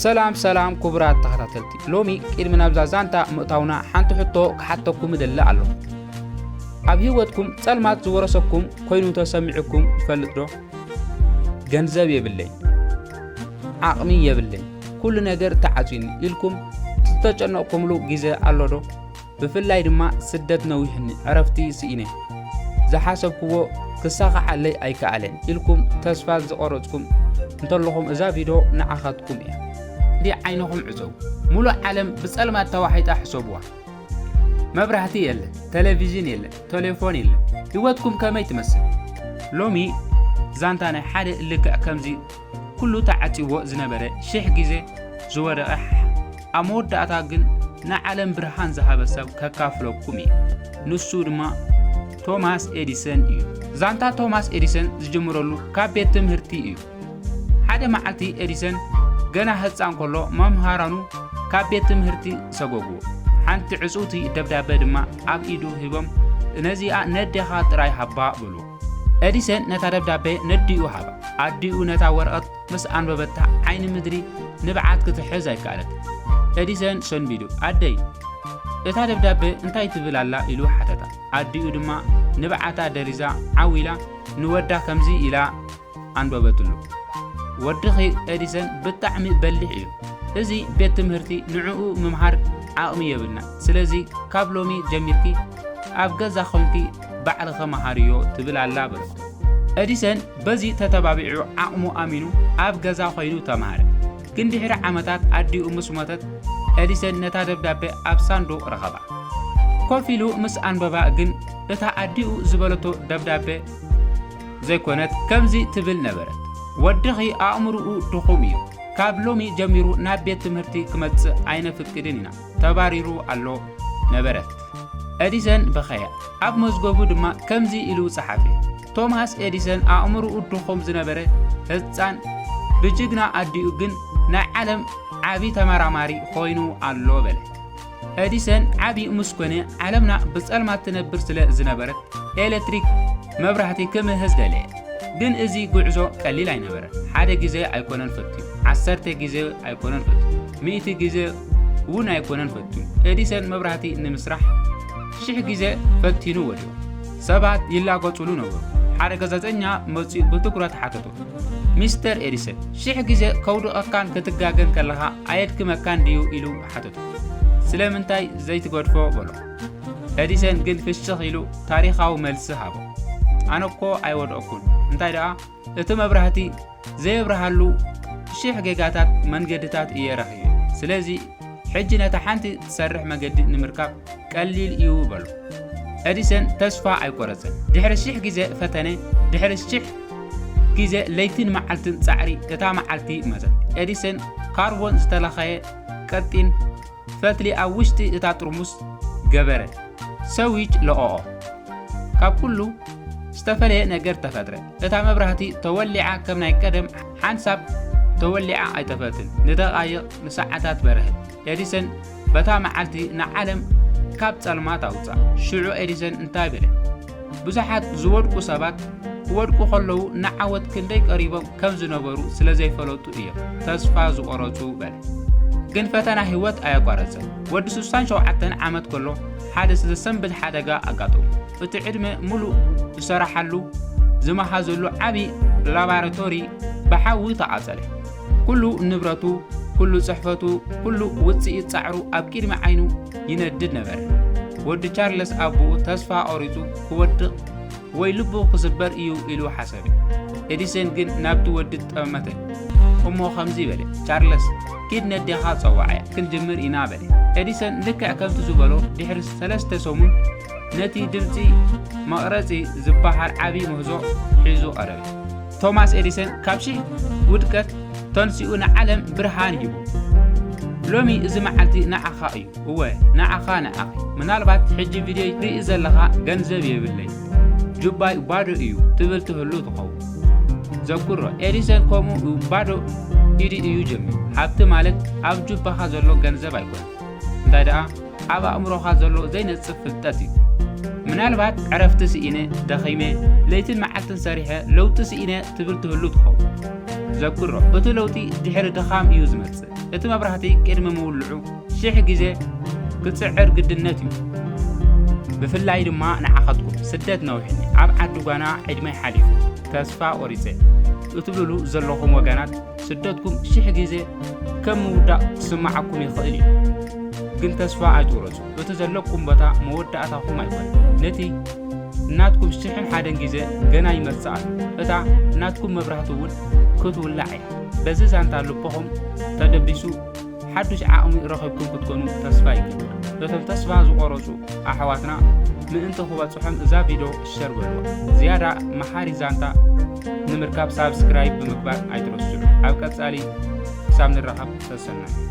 ሰላም ሰላም ኩቡራት ተኸታተልቲ ሎሚ ቅድሚ ናብዛ ዛንታ ምእታውና ሓንቲ ሕቶ ክሓተኩም እደሊ ኣሎ ኣብ ህይወትኩም ጸልማት ዝወረሰኩም ኮይኑ ተሰሚዑኩም ይፈልጥ ዶ ገንዘብ የብለይ ዓቕሚ የብለይ ኩሉ ነገር ተዓጽዩኒ ኢልኩም ዝተጨነቕኩምሉ ግዜ ኣሎ ዶ ብፍላይ ድማ ስደት ነዊሕኒ ዕረፍቲ ስኢነ ዝሓሰብክዎ ክሳኻዓለይ ኣይከኣለን ኢልኩም ተስፋ ዝቆረጽኩም እንተለኹም እዛ ቪድዮ ንዓኻትኩም እያ። ዲ ዓይንኹም ዕጸው ሙሉእ ዓለም ብጸልማት ተዋሒጣ ሕሰቡዋ መብራህቲ የለ ቴሌቪዥን የለ ቴሌፎን የለ ህይወትኩም ከመይ ትመስል ሎሚ ዛንታ ናይ ሓደ ልክዕ ከምዚ ኩሉ ተዓጽይዎ ዝነበረ ሽሕ ግዜ ዝወደቐ ኣብ መወዳእታ ግን ንዓለም ብርሃን ዝሃበ ሰብ ከካፍለኩም እዩ ንሱ ድማ ቶማስ ኤዲሰን እዩ ዛንታ ቶማስ ኤዲሰን ዝጅምረሉ ካብ ቤት ትምህርቲ እዩ ሓደ መዓልቲ ኤዲሰን ገና ህፃን ከሎ መምሃራኑ ካብ ቤት ትምህርቲ ሰጎጉዎ ሓንቲ ዕፅውቲ ደብዳቤ ድማ ኣብ ኢዱ ሂቦም ነዚኣ ነዴኻ ጥራይ ሃባ ብሉ ኤዲሰን ነታ ደብዳቤ ነዲኡ ሃባ። ኣዲኡ ነታ ወረቐት ምስ ኣንበበታ ዓይኒ ምድሪ ንብዓት ክትሕዝ ኣይከኣለት። ኤዲሰን ሰንቢዱ ኣደይ እታ ደብዳቤ እንታይ ትብል ኣላ ኢሉ ሓተታ። ኣዲኡ ድማ ንብዓታ ደሪዛ ዓው ኢላ ንወዳ ከምዚ ኢላ ኣንበበትሉ። ወድኺ ኤዲሰን ብጣዕሚ በሊሕ እዩ። እዚ ቤት ትምህርቲ ንዕኡ ምምሃር ዓቕሚ የብልና። ስለዚ ካብ ሎሚ ጀሚርኪ ኣብ ገዛ ኮንኪ ባዕልኺ መሃርዮ ትብል ኣላ በለት። ኤዲሰን በዚ ተተባቢዑ ዓቕሙ ኣሚኑ ኣብ ገዛ ኮይኑ ተማሃረ። ግን ድሕሪ ዓመታት ኣዲኡ ምስ ሞተት ኤዲሰን ነታ ደብዳቤ ኣብ ሳንዱቕ ረኸባ። ኮፍ ኢሉ ምስ ኣንበባ ግን እታ ኣዲኡ ዝበለቶ ደብዳቤ ዘይኮነት ከምዚ ትብል ነበረት፣ ወድኺ ኣእምርኡ ድኹም እዩ፣ ካብ ሎሚ ጀሚሩ ናብ ቤት ትምህርቲ ክመጽእ ኣይነፍቅድን ኢና፣ ተባሪሩ ኣሎ ነበረት። ኤዲሰን በኸየ፣ ኣብ መዝገቡ ድማ ከምዚ ኢሉ ጸሓፈ፣ ቶማስ ኤዲሰን ኣእምርኡ ድኹም ዝነበረ ህጻን ብጅግና ኣዲኡ ግን ናይ ዓለም ዓቢ ተመራማሪ ኮይኑ ኣሎ በለ። ኤዲሰን ዓቢ ምስ ኮነ፣ ዓለምና ብጸልማት ትነብር ስለ ዝነበረት፣ ኤለትሪክ መብራህቲ ክምህዝ ደለየ። ግን እዚ ጉዕዞ ቀሊል ኣይነበረን። ሓደ ግዜ ኣይኮነን ፈትዩ፣ ዓሰርተ ግዜ ኣይኮነን ፈትዩ፣ ሚእቲ ግዜ እውን ኣይኮነን ፈትዩ። ኤዲሰን መብራህቲ ንምስራሕ ሽሕ ግዜ ፈቲኑ ወዲቑ። ሰባት ይላገጹሉ ነበሩ። ሓደ ጋዜጠኛ መጺኡ ብትኩረት ሓተቶ፣ ሚስተር ኤዲሰን፣ ሽሕ ግዜ ከውድቐካን ክትጋገን ከለኻ ኣየድክመካን ድዩ? ኢሉ ሓተቶ። ስለምንታይ ዘይትገድፎ በሎ። ኤዲሰን ግን ፍሽኽ ኢሉ ታሪኻዊ መልሲ ሃቦ። ኣነ እኮ ኣይወድኦኩን እንታይ ደኣ እቲ መብራህቲ ዘየብርሃሉ ሽሕ ጌጋታት መንገድታት እየ ረኺበ ስለዚ ሕጂ ነታ ሓንቲ ትሰርሕ መገዲ ንምርካብ ቀሊል እዩ በሎ ኤዲሰን ተስፋ ኣይቆረፅን ድሕሪ ሽሕ ግዜ ፈተነ ድሕሪ ሽሕ ግዜ ለይትን መዓልትን ፃዕሪ እታ መዓልቲ መፀት ኤዲሰን ካርቦን ዝተለኸየ ቀጢን ፈትሊ ኣብ ውሽጢ እታ ጥርሙስ ገበረ። ሰዊች ለቐቖ። ካብ ኩሉ ዝተፈለየ ነገር ተፈጥረ። እታ መብራህቲ ተወሊዓ ከም ናይ ቀደም ሓንሳብ ተወሊዓ ኣይጠፈትን። ንደቓይቕ ንሰዓታት በርህት። ኤዲሰን በታ መዓልቲ ንዓለም ካብ ጸልማት ኣውጽኣ። ሽዑ ኤዲሰን እንታይ በለ? ብዙሓት ዝወድቁ ሰባት ክወድቁ ከለዉ ንዓወት ክንደይ ቀሪቦም ከም ዝነበሩ ስለ ዘይፈለጡ እዮም ተስፋ ዝቆረጹ በለ ግን ፈተና ህይወት ኣየቋረጸ ወዲ 67 ዓመት ከሎ ሓደ ዘሰንብድ ሓደጋ ኣጋጠሙ እቲ ዕድመ ሙሉእ ዝሰራሓሉ ዝመሃዘሉ ዓብዪ ላባራቶሪ ብሓዊ ተቓጸለ። ኩሉ ንብረቱ፣ ኩሉ ጽሕፈቱ፣ ኩሉ ውጽኢት ጻዕሩ ኣብ ቅድሚ ዓይኑ ይነድድ ነበረ። ወዲ ቻርለስ ኣቦኡ ተስፋ ቈሪጹ ክወድቕ ወይ ልቡ ክስበር እዩ ኢሉ ሓሰበ። ኤዲሰን ግን ናብቲ ወዲ ጠመተ እሞ ከምዚ በለ፣ ቻርለስ ኪድ ነዴኻ ጸዋዓያ ክንጅምር ኢና በለ። ኤዲሰን ልክዕ ከምቲ ዝበሎ ድሕሪ ሰለስተ ሰሙን ነቲ ድምጺ መቕረጺ ዝበሃል ዓቢ ምህዞ ሒዙ ቀረበ። ቶማስ ኤዲሰን ካብ ሽሕ ውድቀት ተንሲኡ ንዓለም ብርሃን ሂቡ። ሎሚ እዚ መዓልቲ ንዓኻ እዩ። እወ ንዓኻ ንዓኺ። ምናልባት ሕጂ ቪድዮ ትርኢ ዘለኻ ገንዘብ የብለይ ጁባይ ባዶ እዩ ትብል ትህሉ ትኸውን። ዘኩሮ ኤዲሰን ከምኡ ባዶ ኢዲ እዩ ጀሚሩ። ሃብቲ ማለት ኣብ ጁባኻ ዘሎ ገንዘብ ኣይኮነን እንታይ ደኣ ኣብ ኣእምሮኻ ዘሎ ዘይነጽፍ ፍልጠት እዩ። ምናልባት ዕረፍቲ ስኢነ፣ ደኺመ፣ ለይትን መዓልትን ሰሪሐ ለውጢ ስኢነ ትብል ትህሉ ትኸውን። ዘክሮ፣ እቲ ለውጢ ድሕሪ ድኻም እዩ ዝመጽእ። እቲ መብራህቲ ቅድሚ ምውልዑ ሽሕ ግዜ ክጽዕር ግድነት እዩ። ብፍላይ ድማ ንዓኻትኩም ስደት ነዊሕኒ፣ ኣብ ዓዲ ጓና ዕድመይ ሓሊፉ፣ ተስፋ ቆሪጸ እትብልሉ ዘለኹም ወገናት ስደትኩም ሽሕ ግዜ ከም ምውዳቕ ክስምዓኩም ይኽእል እዩ፣ ግን ተስፋ ኣይትቑረጹ። እቲ ዘለኩም ቦታ መወዳእታኹም ኣይኮነን። ነቲ ናትኩም ሽሕን ሓደን ግዜ ገና ይመጽእ ኣሎ። እታ ናትኩም መብራህቲ እውን ክትውላዕ እያ። በዚ ዛንታ ልብኹም ተደቢሱ ሓዱሽ ዓቕሚ ረኺብኩም ክትኮኑ ተስፋ ይገብር። በቶም ተስፋ ዝቖረጹ ኣሕዋትና ምእንቲ ክበጽሖም እዛ ቪድዮ ሸር በልዋ። ዝያዳ መሓሪ ዛንታ ንምርካብ ሳብስክራይብ ብምግባር ኣይትረስዑ። ኣብ ቀጻሊ ክሳብ ንራኸብ ሰሰናዩ።